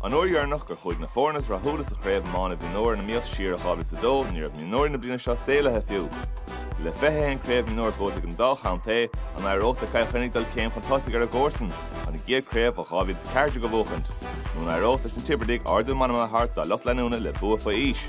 An uair dheireanach go chuaigh na foirne is rathúla sa chraobh iomána mhionúir i ngleic siar i 2002, ní raibh mionúirí na bliana seo saolaithe fiú! Le 21 craobh mionúir buaite ag an dá chontae, an éireoidh le Cill Chainnigh dul céim chun tosaigh ar a gcomharsain, chun a gcéad chraobh ó 2014 a bhuachaint? Nó an éireoidh leis na Tiobradaigh ardú meanman a thabhairt dá lucht leanúna le bua faoi aois?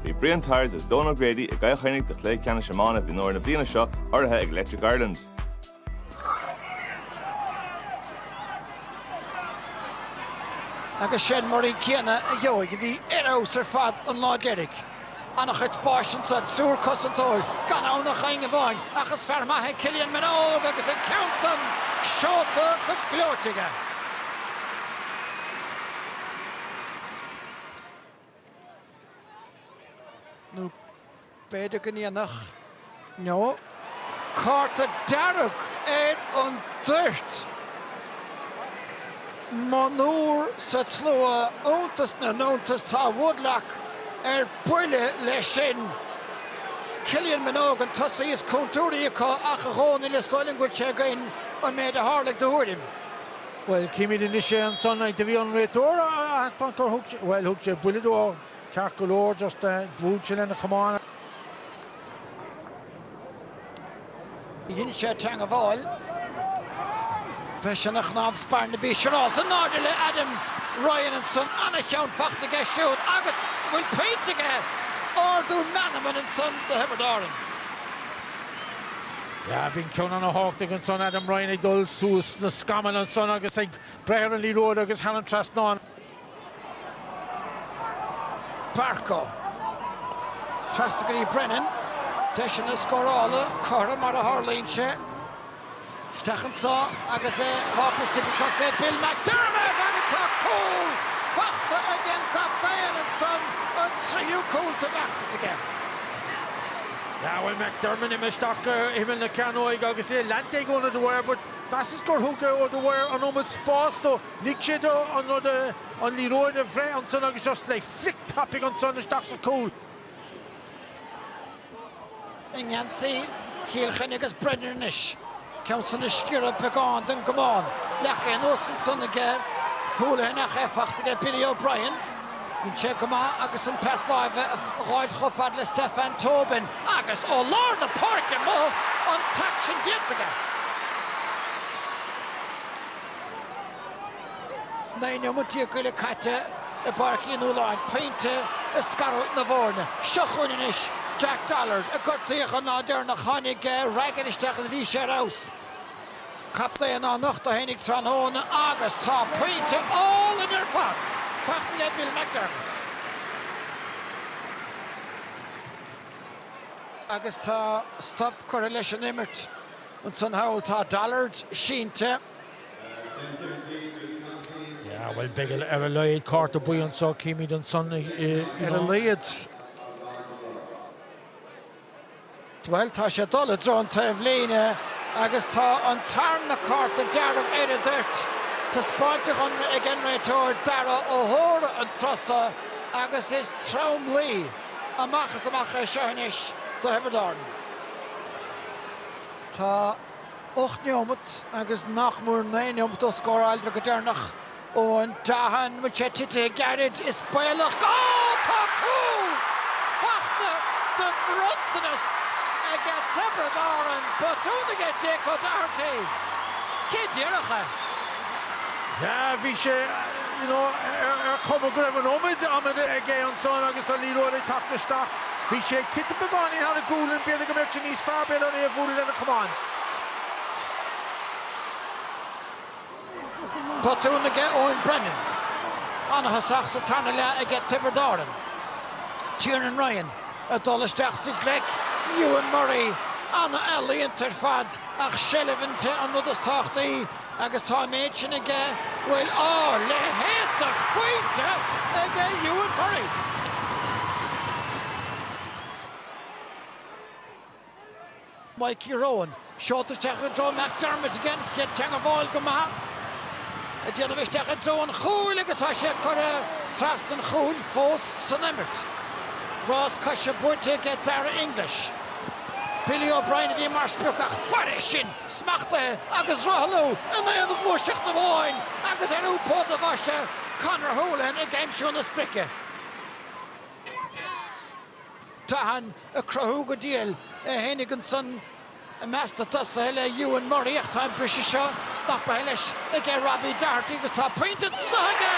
Bhí Brian Tyers is Dónal O'Grady i gCill Chainnigh do chluiche ceannais iomána mhionúir na bliana seo urraithe ag Electric Ireland. Agus sin Murray céanna a gheobhaidh a bhí ar fheabhas ar fad an lá deiridh. An-chuid spáis ansan, triúr cosantóir, gan ann ach éinne amháin, ach is fear maith é Cillian Minogue agus an ceann san seolta go gleoite aige. nó b'fhéidir go ndéanfadh? No. Cárta dearg ar an dtoirt! Monabhar sa tslua, iontas na n-iontas tá Woodlock ar buile leis sin. Cillian Minogue an tosaí is contúirtí acu ach a Dhónaill is dóigh liom go bhfuil sé againn an méid a tharla, do thuairim. Bhuel, címid anois é ansan agus. Do bhí an réiteoir ag taispeáint gur thug sé buille dó ceart go leor, just bhrúigh sé lena chamán. Dhein sé teangabháil freisin a chnámh smiolgadáin, b'fhéidir, siúráilte. In airde le Adam Ryan ansan. ana-cheann fachta aige siúd agus bhfuil pointe aige, ardú meanman ansan do Thiobraid Árann. Yeah, bhí an ceann san ana-thábhachtach ansan, Adam Ryan ag dul suas sna scamaill ansan agus ag breith ar an liathróid agus thar an trasnán. Barco. Trasna go dtí Brennan. Deiseanna scórála tríocha mar a tharlaíonn sé isteach anso agus é fágtha, b'fhéidir, Bill McDermott agus tá cúl fachta ag an gcaptaen ansan, an tríú cúl sa bhfeachtas aige. Yeah, bhuel, McDermott imithe isteach go himeall na cearnóige agus é leanta ag Eoin O Dwyer? But cheapas gur thug O Dwyer an iomarca spáis dó. Lig sé dó an liathróid a bhreith ansan agus just le flick tapaigh ansan isteach sa chúl. i ngeansaí Chill Chainnigh agus Brennan anois. Ceann san ag sciorradh beagán den gcamán. Leagtha anuas ansan aige Houlihan ach í fachta aige Billy O'Brien. Rinne sé go maith agus an pas láimhe a dh'fháilt chomh fad le Stefan Tobin agus ó lár na páirce mhol an t-aicsean déanta aige. Naoi nóiméad déag go leith caite i bPáirc Uí Nualláin, pointe ag scarúint na bhfoirne. Seo chugainn anois Jack Dollard, a gortaíodh an lá deireanach. Tháinig Raggett isteach agus bhí sé ar fheabhas. Captaen á nochtadh féinig tráthnóna agus tá pointe álainn ar fad fachta aige Bill McDermott. Agus tá stop curtha leis an imirt. Ansan thall tá Dollard sínte. Yeah, well, beidh ar a laghad cárta buí anseo, címid ansan, you know. Ar a laghad. Bhuel, tá sé ag dul i dtreo an taobhlíne agus tá an tarna cárta dearg ar an dtoirt. Taispeáinte cheana aige an réiteoir, Darragh O'Hora, an tráth so agus is tromluí amach is amach é seo anois do Thiobraid Árann. Tá. 8 neomat agus nach mór 9 neomat ó scóráladar go deireanach Eoghan Doughan beidh sé titithe gairid is baolach go Tá cúl fachta de bhronntanas aige Tiobraid Árann botún aige Jake O'Doherty cé déarfadh é? yeah bhí sé you know ar chuma go raibh an iomad ama aige ansan agus an liathróid ag teacht isteach. Bhí sé ag titim beagáinín thar a ghualainn, b'fhéidir go mbeadh sé níos fearr b'fhéidir é a bhualadh lena chamán. Botún aige Eoin Brennan. Ana-thosach sa tarna leath aige Tiobraid Árann. Tiernan Ryan ag dul isteach sa ghleic, Euan Murray an-ealaíonta ar fad ach seilbh an 'te' an rud is tábhachtaí. agus tá an méid sin aige bhuel a leithéid de phointe aige Euan Murray. Mikey Rohan, seolta isteach i dtreo McDermott aige, an chéad teangmháil go maith ag déanamh isteach i dtreo an chúil agus tá sé curtha trasna an chúil fós san imirt. Rás coise buaite aige Daire English. Billy O'Brien a bhí mar sprioc ach fairis sin, smachtaithe agus rothlú in aon ghluaiseacht amháin agus ar iompú do bhaise Conor Holohan ag aimsiú na sprice. Doughan ag cruthú go diail é féinig ansan i measc na dtosaithe le Euan Murray ach tá an briseadh seo snapaithe leis aige Robbie Doherty agus tá pointe anso aige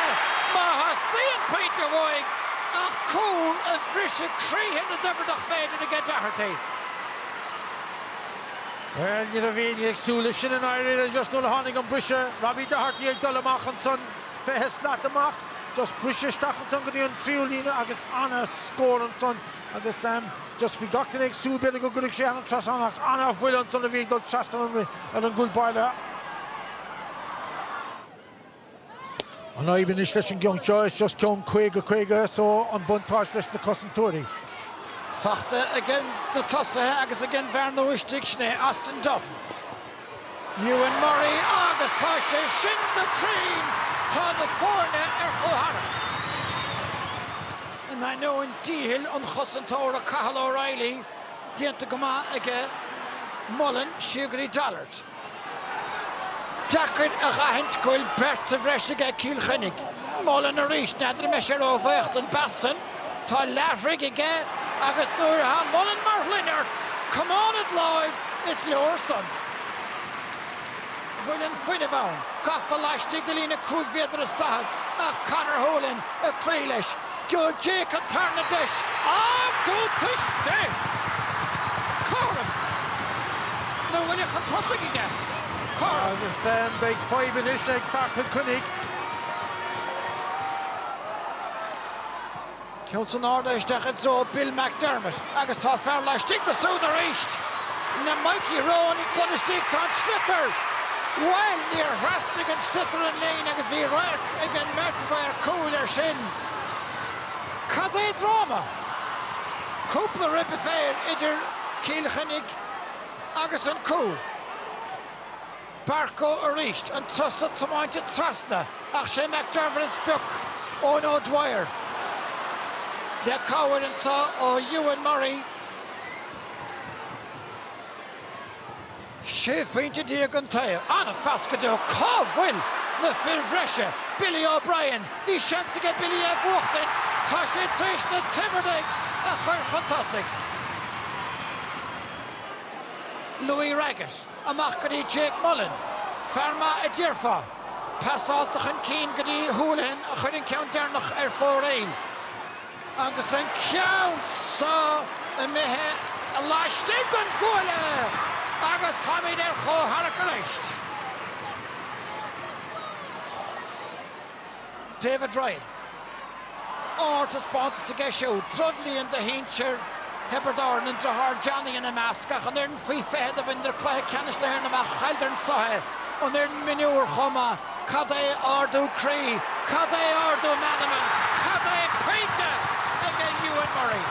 má theastaíonn pointe uaidh ach cúl a bhrisfeadh croíthe na dTiobradach b'fhéidir aige Doherty. Bhuel, ní raibh éinne ag súil leis sin i ndáiríre just nuair a tháinig an briseadh. Robbie Doherty ag dul amach ansan, 20 slat amach, just briseadh isteach ansan go dtí an tríú líne agus ana-scór ansan agus just bhí gach duine ag súil b'fhéidir go gcuirfeadh sé thar an trasnán ach ana-bhuille ansan a bhí ag dul trasna ar an gcúl báire. An fhadhb anois leis an gceann seo is just ceann 50, 50 so an buntáiste leis na cosantóirí. Fachta aiges na tosaithe agus ag an bhfear nua istigh sin é Austin Duff. Euan Murray agus tá sé sin go cruinn! Tá na foirne ar chomhtharrac. In ainneoin dícheall an chosantóra Cathal O'Reilly déanta go maith aige Mullen. Siar go dtí Dollard. deacair a aithint go bhfuil beirt sa bhreis aige ag Cill Chainnigh. Mullen arís n'fheadar mbeidh sé róbhuíoch den bpas san. Tá leathbhrig aige agus nuair atá Mullen mar shloinne ort, camán id láimh, is leor san. bhfuil an fuinneamh ann, gafa laistigh de líne cúig mhéadar is daichead ach Conor Holohan ag cloí leis Go Jake an tarna deis ard go tuiste! Cothrom na bhaile chun tosaigh aige. Cothrom. Agus beidh fadhb anois ag fear Chill Chainnigh. Ceann san airde isteach i dtreo Bill McDermott. Agus tá fear laistigh de siúd arís le Mikey Rohan ansan istigh. Tá an sliotar! Bhuel, níor thrasnaigh an sliotar an líne agus bhí radharc ag an mbeirt mhaor cúil ar sin. Cad é dráma! Cúpla ribe féir idir Cill Chainnigh agus an cúl. Barcoe arís, an turas so tiomáinte trasna ach sé McDermott is pioc Owen O'Dwyer, le cabhair anseo ó Euan Murray, 16 phointe an taobh. An-phas go deo. Cá bhfuil na fir bhreise? Billy O'Brien, bhí seans aige Billy é bhuachtaint, tá sé tar éis na Tiobradaigh a chuir chun tosaigh. Louis Raggett. Amach go dtí Jake Mullen. Fear maith a déarfá. Pasálta chun cinn go dtí Holohan a chuir an ceann deireanach ar fóraoil. Agus an ceann seo imithe laistigh den gcuaille! Agus táimid ar chomhtharrac arís! David Ryan, ardtaispeántas aige siúd, drochbhliain do shinsir Thiobraid Árann, an driotháir Johnny ina measc, ach an fhoireann faoi 20 do bhaineadar cluiche ceannais na hÉireann amach, chailleadar ann, sroichte an fhoireann mhionúir chomh maith. Cad é ardú croí, cad é ardú meanma, cad é pointe ag an Euan Murray?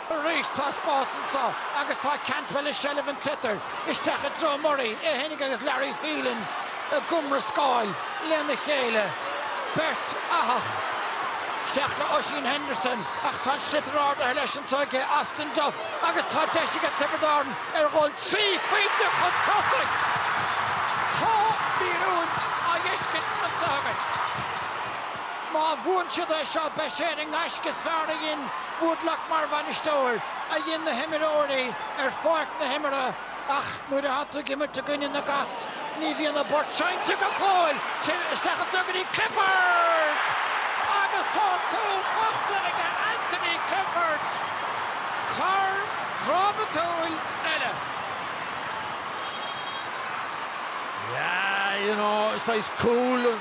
Arís tá spás anseo agus tá Cantwell i seilbh an tsliotair isteach i dtreo Murray, é fhéinig agus Larry Phelan ag iomrascáil lena chéile. Beirt fhathach isteach le Oisín Henderson ach tá an sliotar ardaithe leis anseo aige Austin Duff agus tá deis aige Tiobraid Árann ar dhul trí phointe chun tosaigh. Tá míorúilt á fheiscint anseo againn. Má bhuann siad é seo beidh sé ar an ngaisce is fearr a dhein Woodlock mar bhainisteoir, a dhein na himreoirí ar pháirc na himeartha ach nuair atá tú ag imirt i gcoinne na gCat ní bhíonn a bport seinnte go fóill! Isteach anseo go dtí Clifford agus tá cúl faighte aige Anthony Clifford! Cor drámatúil eile. Yeah, you know, saghas cúl.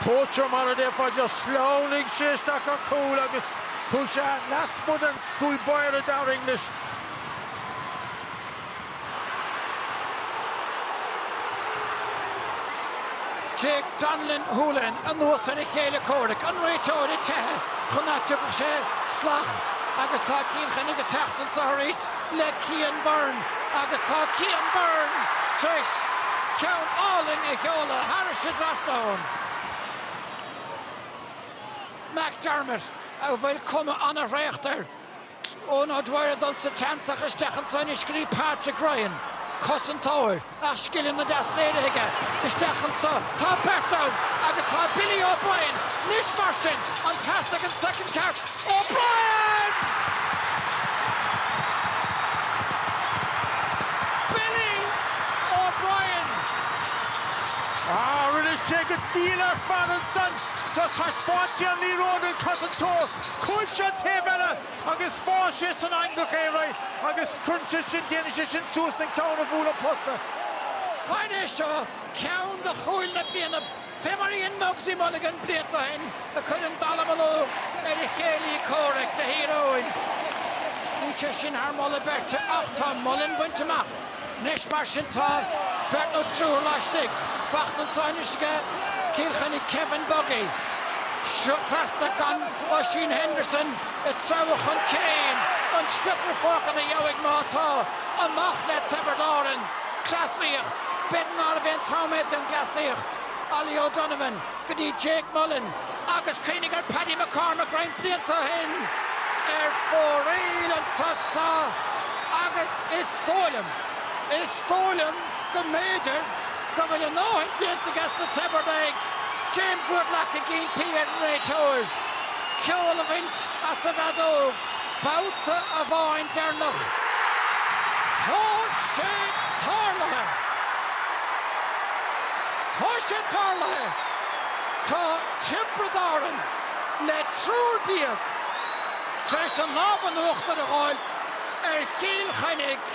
Poacher mar a déarfá, just shleamhnaigh sé isteach ar chúl agus chuaigh sé lasmuigh den chúl báire Daire English. Jake Donelan Houlihan anuas ar a chéile comhraic an réiteoir ag teitheadh chun ná tiocfadh sé salach agus tá Cill Chainnigh ag teacht anseo arís. le Cian Byrne agus tá Cian Byrne tar éis ceann álainn a sheoladh thairis an dtrasnán McDermott a bhfuil cuma an-thraochta air. Owen O'Dwyer ag dul sa tseans ach isteach anseo anois go dtí Patrick Ryan, cosantóir. Ach scileanna deasa léirithe aige isteach anseo. Tá beirt ann agus tá Billy O'Brien anois mar sin an pas ag an soicind ceart. O'Brien! Billy O'Brien! Ach rinne sé go diail ar fad ansan. Just thaispeáin sé an liathróid don chosantóir. Chuaigh sé taobh eile. Agus bháigh sé san eangach é alright agus cuireann sé sin, déanann sé sin suas an ceann a bhuail an posta. Mar é seo ceann de chúil na bliana fé mar a dhein Mugsy Mulligan blianta ó shin a chuir an dallamullóg ar a chéilí comhraic do Thír Eoghain. Bhí sé sin thar moladh beirte ach tá Mullen bainte amach. Anois mar sin tá beirt nó triúr laistigh. Faighte anseo anois aige Cill Chainnigh Kevin Buggy. Trasna chun Oisín Henderson ag treabhadh chun cinn an sliotar fágtha ina dhiaidh má tá. Amach le Tiobraid Árann. Cleasaíocht. B'fhéidir nárbh é an t-am é don gcleasaíocht. Ollie O'Donovan. go dtí Jake Mullen agus cuimhnigh ar Paddy McCormack roinnt blianta ó shin ar fóraoil chun tosaigh agus is dóigh liom, is dóigh liom go mb'fhéidir go bhfuil a ndóthain déanta aiges na Tiobradaigh. James Woodlock ag impí ar an réiteoir ceol a bhaint as an bhfeadóg. Babhta amháin deireanach tá sé tarlaithe. Tá sé tarlaithe. Tá Tiobraid Árann le triúr déag tar éis an lámh in uachtar a fháilt ar Chill Chainnigh.